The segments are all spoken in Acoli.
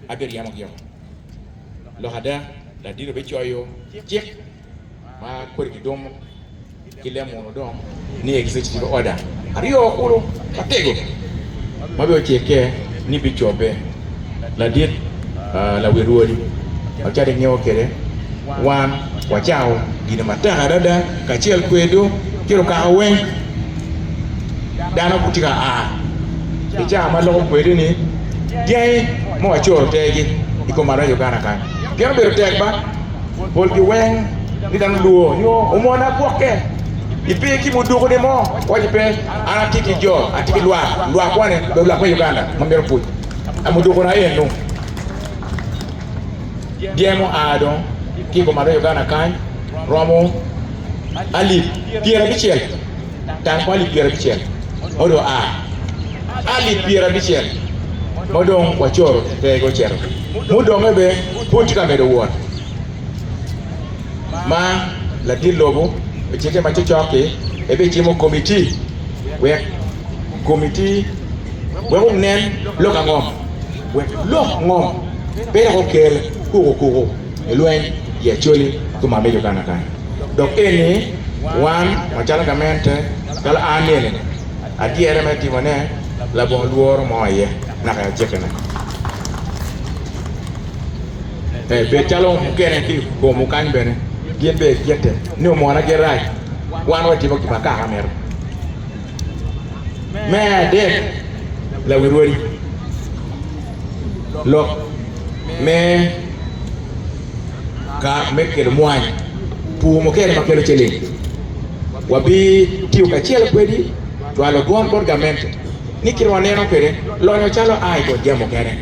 abyed yamo gi yamo. Lok ada, ladino bicoyo cik ma kodi ki dum ki lemuno dong ni egise ci cibo oda aryo kulu matego ma bene ocikke ni bicobbe ladit lawil wodi. Macalo ingeyo kede, wan wacawo gin matek adada. Kacel kwedwu ki lukaka weng, dano gitye ka a i cawa ma loko kwedwu ni dyangi ma wacoro tegi i kom arac Uganda kany. Pien obedo tek ba, polgi weng ni dano lwo nyo omona gwokke. Ipe ki muduku ni mo, waco ni pe an atye ki jo, atye ki lwak, lwak wane, obedo lwak me Uganda ma mito pwoc, a muduku na enu. dyang oa dong ki i kom aryo Uganda kany romo alip pyerabicel tang kwon alip pyerabicel ma onongo oa alip pyerabicel ma dong wacoro i te gi ocito gi mudonge bene pud tye ka medo wot ma ladit lobo ocite ma cokcok ki en bene cimo komiti wek komiti wek onen lok angom Wek lok ango? Pe dok okel kuku kuku i lweny i Acholi ki Mwami Uganda kany. Dok eni wan macalo gamente calo an nieni adyere me timo ne labongo lworo mo aye naka i ajiki ne. Ee bed calo mukene ki komu kany bene gin bene gigitte ni omona girac wan watimo gima kaka mito. Me adek, lawirwari lok me ka me kelo mwany, pur mukene ma kelo ciling, wabitiyo kacel kwedi cwalo bwot bot gamente ni kite waneno kwede lonyo calo a i kom jami mukene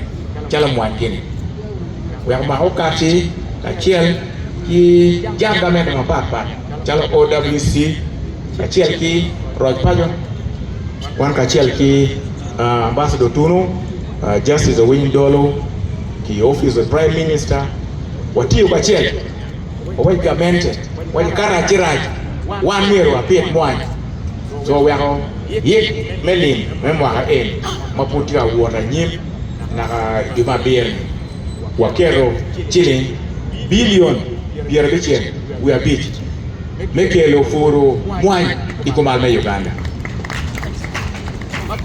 calo mwany gini wek omaka okac-ci kacel ki jam gamente mapat pat. calo OWC kacel ki roc paco wan kacel ki Ambassador Otunu, Justice Owiny Dollo ki Office of Prime Minister watiyo kacel wawegi gamente waco ka rac ci rac wan myero wabit mwany co weko yik me lim me mwaka eni ma pud tye ka wot anyim naka i juma abiro-ni. waketo ciling bilion pyerabicel wiye abic me kelo puru mwany i kumal me Uganda.